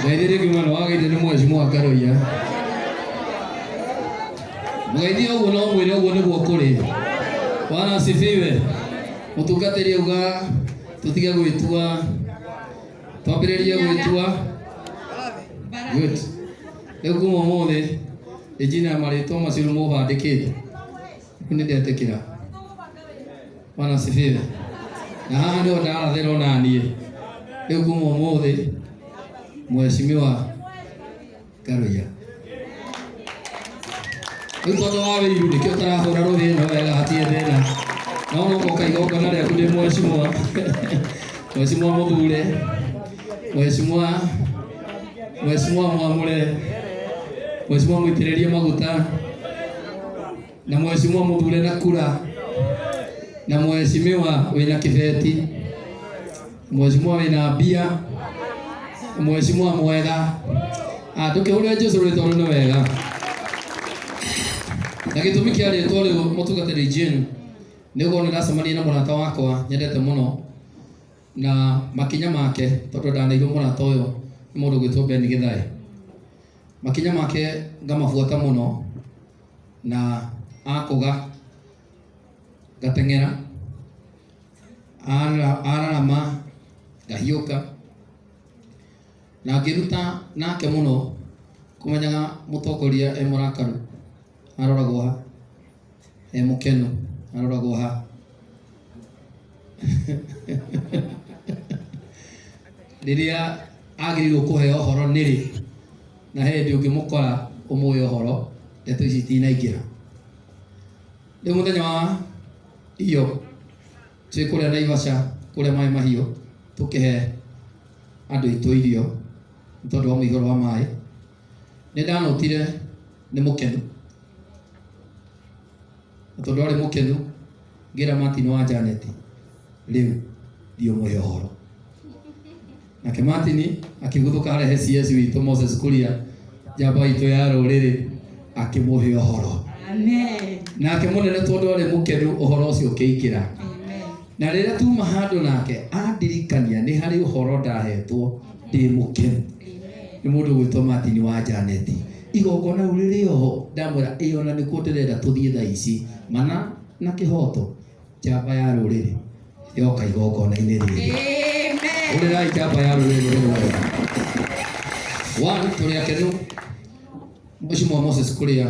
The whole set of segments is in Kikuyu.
Ngeithie rĩngĩ mwana wa geithio nĩ mheshimiwa Karoia. Mũgeithie ũguo na ũmwĩre ũguo nĩguo kũrĩ. Bwana asifiwe. Mũtungatĩri uga tũtige gwĩtua. Twambĩrĩrie gwĩtua. Good. Rĩu kuma ũmũthĩ ĩnjina marĩtwa macio nĩ mũbandĩkĩte. Nĩ ndetĩkĩra. bwana asifiwe na haha ndio ndarathirwo naniĩ rĩu kuma ũmũthĩ mheshimiwa karuya rĩu tondũ wa wĩiru nĩkĩo ũtarahũra rũhĩ ĩno wega hatirĩ thĩna no no moka igongona rĩaku ndĩ mheshimiwa mheshimiwa mũthure mheshimiwa mheshimiwa mwamũre mheshimiwa mũitĩrĩrie maguta na mheshimiwa muthure na kura na mheshimiwa wina kibeti mheshimiwa wina mbia mheshimiwa mwega Ah, tukihurira jesu ritwa ru ni wega na gitumi kia ritwa riu mutungatiri jane niguo niracemania na murata wakwa nyendete muno na makinya make tondu ndanaigua murata uyu ni mundu gwitwo ben githai makinya make ngamabuata muno na akũga ngateng'era Ara- ararama ngahiũka na ngĩruta nake mũno kũmenyaga mũtongoria e mũrakaru aroragwo ha e mũkenu aroragwo ha rĩrĩa agĩrĩirwo kũheo ũhoro nĩrĩ na he hĩndĩ ũngĩmũkora ũmũĩ ũhoro ndeto ici itinaingĩra rĩu mũthenya wa iyo twĩ kũrĩa naivaca kũrĩa maĩ mahiũ tũkĩhe andũ itũ irio nĩ tondũ wa mũihũro wa maĩ nĩ ndanotire nĩ mũkenu na tondũ arĩ mũkenu Ngĩra Martin wa Janet, rĩu ndiũmũhe ũhoro. Nake Martin akĩguthũka arehe CS witũ Moses Kuria, njamba itũ ya rũrĩrĩ, akĩmũhe ũhoro. Amen. Nake mũnene tondũ arĩ mũkenu ũhoro ũcio ũkĩingĩra. Amen. Na rĩrĩa tuma handũ nake andirikania nĩ harĩ ũhoro ndahetwo ndĩ mũkenu. Amen. Nĩ mũndũ ũgwĩtwo Martin wa Janeti. Igongona rĩu rĩrĩ o ho, ndamwĩra, ĩ o na nĩkuo ndĩrenda tũthiĩ thaa ici, mana na kĩhooto, njamba ya rũrĩrĩ yoka igongona-inĩ rĩrĩ. Hũrĩrai njamba ya rũrĩrĩ rũrũ wega. One, tũrĩ akenu. Mheshimiwa Moses Kuria,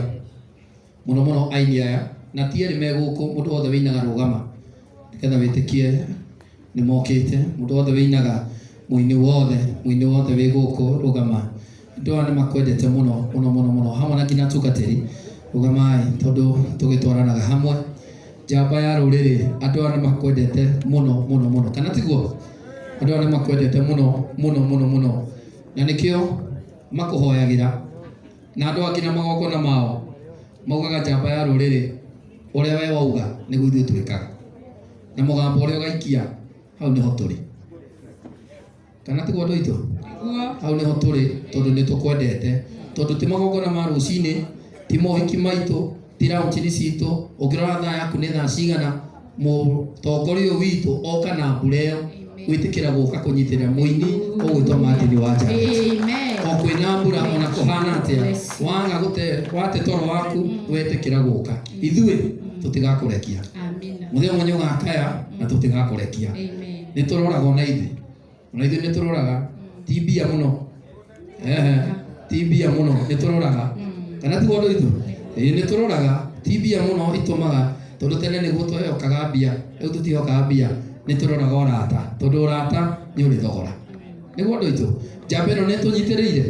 mũno mũno aini aya na ti erĩ me gũkũ mũndũ wothe wĩinaga rũgama nĩgetha wĩtĩkie nĩ mokĩte mũndũ wothe wĩinaga mũini wothe mũini wothe wĩ gũkũ rũgama andũ aya nĩ makwendete mũno mũno mũno mũno hamwe na nginya atungatĩri rũgamai tondũ tũgĩtwaranaga hamwe njamba ya rũrĩrĩ andũ aya nĩ makwendete mũno mũno mũno kana tiguo andũ aya nĩ makwendete mũno mũno mũno mũno na nĩkĩo makũhoyagĩra Na andũ angĩ na magongona mao maugaga njamba ya rũrĩrĩ, ũrĩa we wauga nĩguo ithuĩ twĩkaga, na mũgambo ũrĩa ũgaikia hau nĩho tũrĩ. Kana tiguo andũ aitũ? Nĩguo. Hau nĩho tũrĩ tondũ nĩ tũkwendete, tondũ ti magongona ma rũcinĩ, ti mohiki maitũ, ti raũnjini citũ, ũngĩrora thaa yaku nĩ thaa cigana, mũtongoria ũyũ witũ oka na mbura ĩyo gwĩtĩkĩra gũka kũnyitĩrĩra mũini ũgwĩtwo Martin wa Njageti o kwĩna mbura ona kũhana atĩa waga gũte wate toro waku wetĩkĩra gũka ithuĩ tũtigakũrekia mũthenya ũmwe nĩ ũgakaya na tũtigakũrekia nĩ tũroraga ona ithuĩ ona ithuĩ nĩ tũroraga ti mbia mũno Ehe, ti mbia mũno nĩ tũroraga kana ti wondũ ithu nĩ tũroraga ti mbia mũno itũmaga tondũ tene nĩguo twehokaga mbia rĩu tũtihokaga mbia nĩ tũroraga ũrata tondũ ũrata nĩ ũrĩ thogora nĩguo andũ aitũ njamba ĩno nĩ tũnyitĩrĩire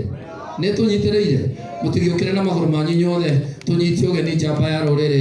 nĩ tũnyitĩrĩire mũtigĩũkĩre na magũrũ manyu inyuothe tũnyite ũgeni njamba ya rũrĩrĩ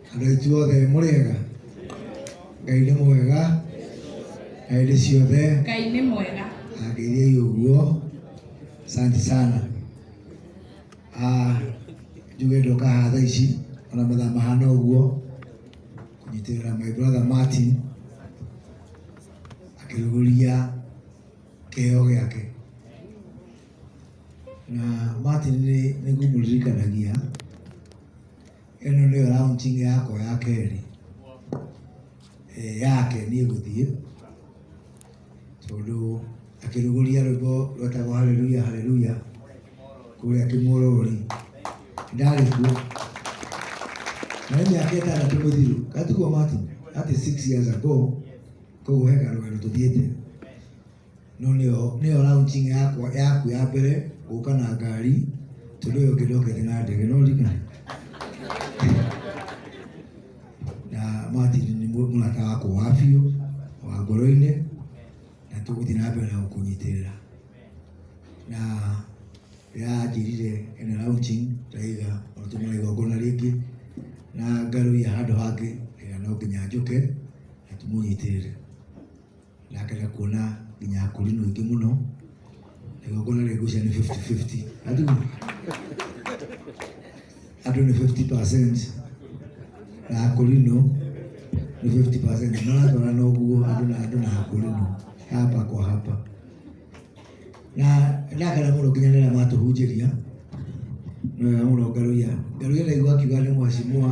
Andũ ithuothe mũrĩega? Ngai nĩ mwega na hĩndĩ ciothe. Ngai nĩ mwega. Angeithei ũguo. Asante sana. Ah, njuge ndoka haha thaa ici ona mathaa mahana ũguo kũnyitĩrĩra my brother Martin akĩrugũria kĩheo gĩake na Martin nĩ nĩguo mũririkanagia ĩno nĩyo raunjingi yakwa ya kerĩ eh, yake niĩ gũthiĩ tondũ akĩrugũria rwĩmbo rwetagwo haleluya haleluya kũrĩa kĩmũrũri ndarĩ kuo na nĩ mĩaka ĩtandatũ mĩthiru gatuo mati atĩ six years ago koguo he karũgano tũthiĩte No nĩyo nĩyo launching yakwa yaku ya mbere gũka na ngari tondũ ũyũ ũngĩ ndokete na ndege no rika na Martin nĩ mũ- mũrata wakwa wa biũ wa ngoro-inĩ na tũgũthiĩ na mbere na gũkũnyitĩrĩra na yanjĩrire ena launching ndaiga onatũmana igongona rĩngĩ na ngarũia handũ hangĩ ĩga no nginya njũke na tũmũnyitĩrĩre na akenda kuona nginya akũri nĩ ingĩ mũno igongona rĩa ngucia nĩ 50-50 andũ andũ nĩ 50% na akũri no nĩ 50% maratwara na ũguo andũ na andũ na akũri no hapa kwa hapa na ndakena mũno nginya nĩra matũhunjĩria nĩwega mũno ngaruia ngaruia ndaigua akiuga nĩ mwacimua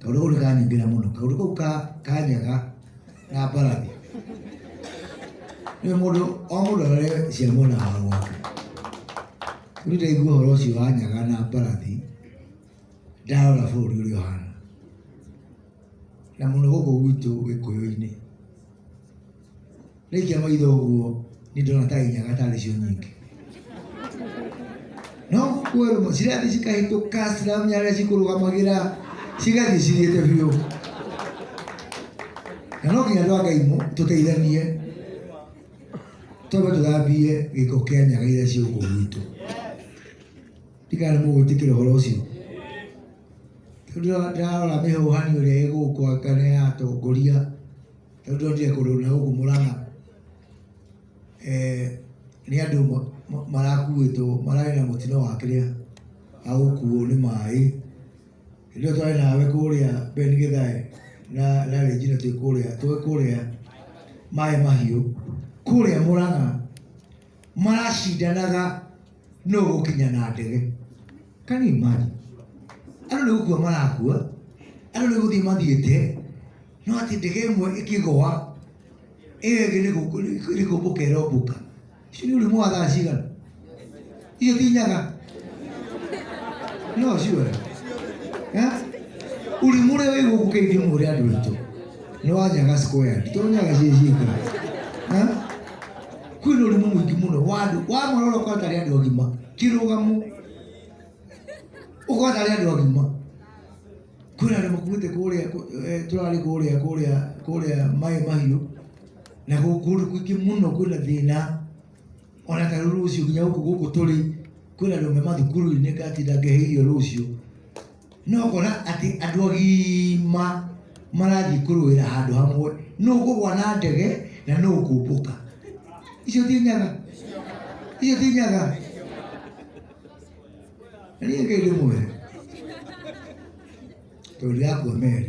Kaũndũ kau nĩ kanyingĩra mũno. Kaũndũ kau ka ka nyaga na mbarathi. Rĩu mũndũ o mũndũ arore cia mwena wa gwake. Rĩu ndaigua ũhoro ũcio wa nyaga na mbarathi, ndarora bũrũri ũrĩa ũhana. Na mũno gũkũ gwitũ Gĩkũyũ-inĩ. rĩkia maitho ũguo nĩ ndona ta inyaga tarĩ cio nyingĩ no kuerũmo cirathiĩ cikahĩtũka ciramenya arĩa cikũrũgamagĩra cigathiĩ cigĩte biũ na no nginya andũ a ngai mũ- tũteithanie twambe tũthambie gĩko kĩa nyaga iria ciĩ gũkũ gwitũ Ndikana nĩ mũgwĩtĩkĩra ũhoro ũcio. Tondũ ndarora mĩhũhani ũrĩa ĩgũkũ angana ya atongoria, tondũ ndonire kũndũ na gũkũ Mũrang'a eh, nĩ andũ marakuĩtwo mararĩ na mũtino wa kĩrĩa wa gũkuo nĩ maĩ. Hĩndĩ ĩyo twarĩ nawe kũrĩa Ben Githae na na Regina twĩ kũrĩa twĩ kũrĩa maĩ mahiũ kũrĩa Mũrang'a maracindanaga nũ ũgũkinya na ndege can you imagine andũ nĩ gũkua marakua andũ nĩ gũthiĩ mathiĩte no atĩ ndege ĩmwe ĩkĩgũa ĩyo ĩngĩ nĩ gũkũ- nĩ- nĩ kũmbũka ĩrombũka icio nĩ ũrimũ wa thaa cigana icio ti nyaga no ciwe ũrimũ ũrĩa wĩ gũkũ kĩithio mũrĩ andũ aitũ nĩ wa nyaga square nditũ nyaga ciĩ cika kwĩna ũrimũ mũingĩ mũno wa andũ wamũrora ũkona tarĩ andũ agima kĩrũgamo ũkona tarĩ andũ agima kwĩna andũ makuĩte kũrĩa kũ- eh, tũrarĩ kũrĩa kũrĩa kũrĩa maĩ mahiũ na gũkũ kũndũ kũingĩ mũno kwĩna thĩna ona ta rĩu rũciũ nginya gũkũ gũkũ tũrĩ kwĩna andũ me mathukuru-inĩ ngatinda ngehe irio rũciũ No ũkona atĩ andũ agima marathiĩ kũrũĩra handũ hamwe, nũ ũkũgwa na ndege na nũ ũkũmbũka. Icio ti nyaga? Icio ti nyaga? Na niĩ Ngai ndĩmwĩre, tondũ ndĩrakua meri.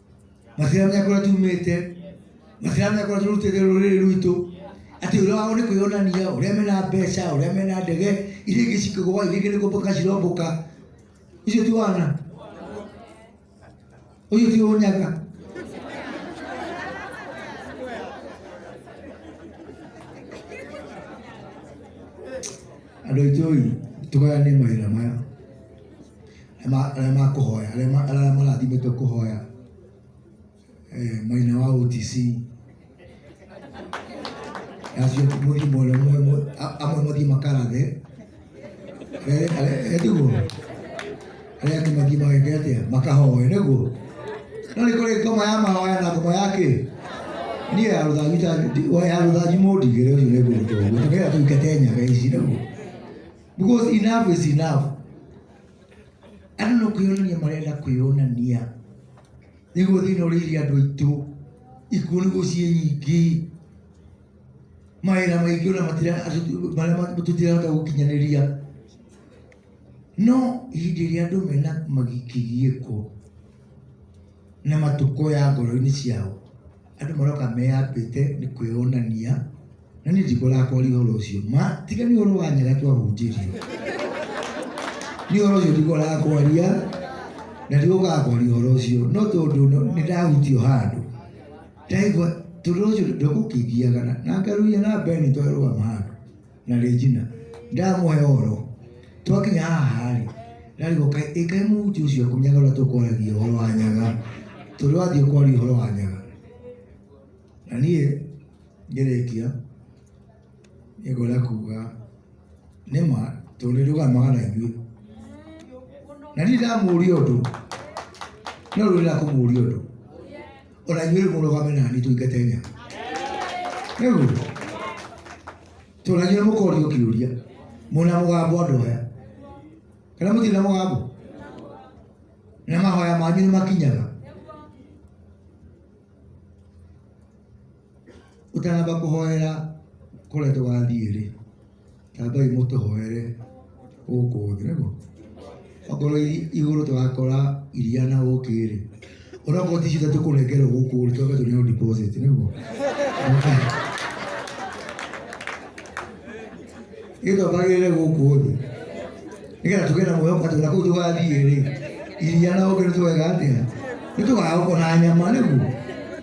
na ciana menya kũrĩa tumĩte na ciana menya kũrĩa tũrutĩte rũrĩrĩ rwitũ atĩ ũrĩa wao nĩ kwĩyonania ũrĩa mena mbeca ũrĩa mena ndege iria ingĩ cikĩgũa iria ingĩ nĩ kũmbũka cirombũka icio ti wana ũcio ti ũnyaga andå aitå ä tå gayanie mawä ra maya arĩa makũhoya arĩa marathimĩtwo kũhoya eh, maina wa OTC acio mũthimo mole mwe amwe mũthii makarathe etiguo arĩa angĩ mathii mageke atia makahoe nĩguo no nĩ kũrĩ ngoma ya mahoya na ngoma ya kĩ niĩ ya rũthanju ya rũthanju mũndigĩre ũcio nĩgũrũtwo ũguo tũkĩra tũikete nyaga ici nĩguo because enough is enough Andũ no kwĩyonania marenda kwĩyonania nĩguo thĩna ũrĩire andũ aitũ, ikuũ nĩguo ciĩ nyingĩ, mawĩra maingĩ ona matira- andũ- marĩa ma- tũtirahota gũkinyanĩria. No hĩndĩ ĩrĩa andũ mena magikĩgiĩko na matũkũ ya ngoro-inĩ ciao Andũ maroka meyambĩte nĩ kwĩyonania na niĩ ndikũrakoria ũhoro ũcio ma tiga nĩ ũhoro wa nyaga twahunjĩrio nĩ ũhoro ũcio ndikũrakoria na ndigũgakoria ũhoro ũcio no tondũ nĩ ndahutio handũ ndaigua tondũ ũcio ndũgũkĩngiaga na ngarũria na mbere nĩ twarũgama handũ na Regina ndamũhe ũhoro twakinya haha rĩ ndarigwo kaĩ- ĩ kaĩ mũhuti ũcio kũnyaga ũrĩa tũkwaragia ũhoro wa nyaga tondũ wathiĩ kwaria ũhoro wa nyaga na niĩ ngĩrĩkia nĩngwenda kuga nĩ ma tondũ nĩ ndũgamaga na ithuĩ na niĩ ndamũria ũndũ no rĩu ndĩrakũmũria ũndũ O na inyuĩ rĩu mũrũgame nani tũingate nyama. Nĩguo. Tondũ na inyuĩ mũkorio kĩũria. Mũna mũgambo andũ aya. Kana mũtirĩ na mũgambo? Na mahoya manyu nĩ makinyaga. Ũtanamba kũhoera kũrĩa tũgathiĩ-rĩ, tambai mũtũhoere gũkũ thĩ, nĩguo? Okorwo igũrũ tũgakora iria na ũkĩ-rĩ, onokorwo ti icio tũkũnengerwo gũkũ-rĩ, twambe tũneo deposit, nĩguo? Ithuĩ twambagĩrĩre gũkũ thĩ, nĩgetha tũgĩe na mwĩhoko atĩ ona kũu tũgathiĩ-rĩ, iria na ũkĩ nĩtũgeka atĩa? Nĩtũgagũkora nyama, nĩguo?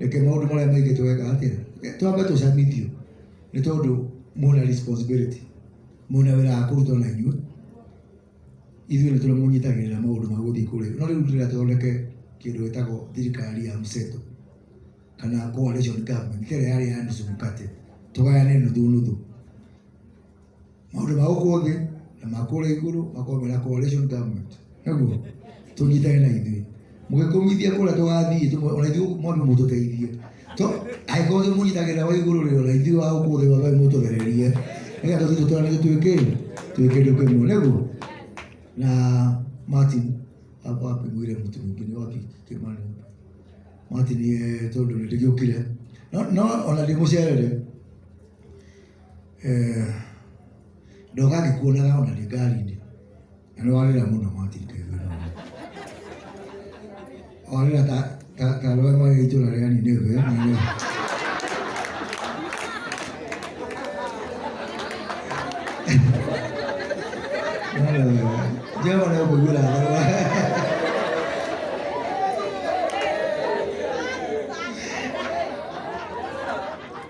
reke maundu maria maingi tweka atia twambe tucamithio ni tondu mwina responsibility mwina wira wa kurutwo na inyue ithuĩ nĩ tũrĩa mũnyitagĩrĩra maũndũ ma gũthiĩ kũrĩa no rĩu ndĩrĩa thondeke kĩndũ gĩtagwo thirikari ya mseto kana coalition government kĩrĩa yarĩ ya nusu mkate tũgayane nuthu nuthu Maũndũ ma gũkũ thĩ na ma kũrĩa igũrũ makorwo mena coalition government. Nĩguo? Tũnyitane na ithuĩ. Mũgĩkũmithia kũrĩa tũgathiĩ tũmwe ona ithuĩ mwambe mũtũteithie. To angĩkorwo tũmũnyitagĩrĩra wa igũrũ rĩ ona ithuĩ wa gũkũ thĩ mwambe mũtũthererie. Nĩgetha tũthiĩ tũtũranĩrie twĩ kĩ? Twĩ kĩndũ kĩmwe. Nĩguo? Na Martin hakwa wapi mwĩre mũtu mũingĩ nĩ wapi Kĩmani wapi? Martin eh, tondũ nĩ ndĩgĩũkire. No no ona ndĩ mũcerere. Eh, ndoga ngĩkuonaga ona ndĩ ngari-inĩ na nĩ warĩra mũno Martin Kevin warĩra ta ta ta rũe marĩ itũra rĩa Nineve na nĩ Jehova nĩ ũkũiguĩra tha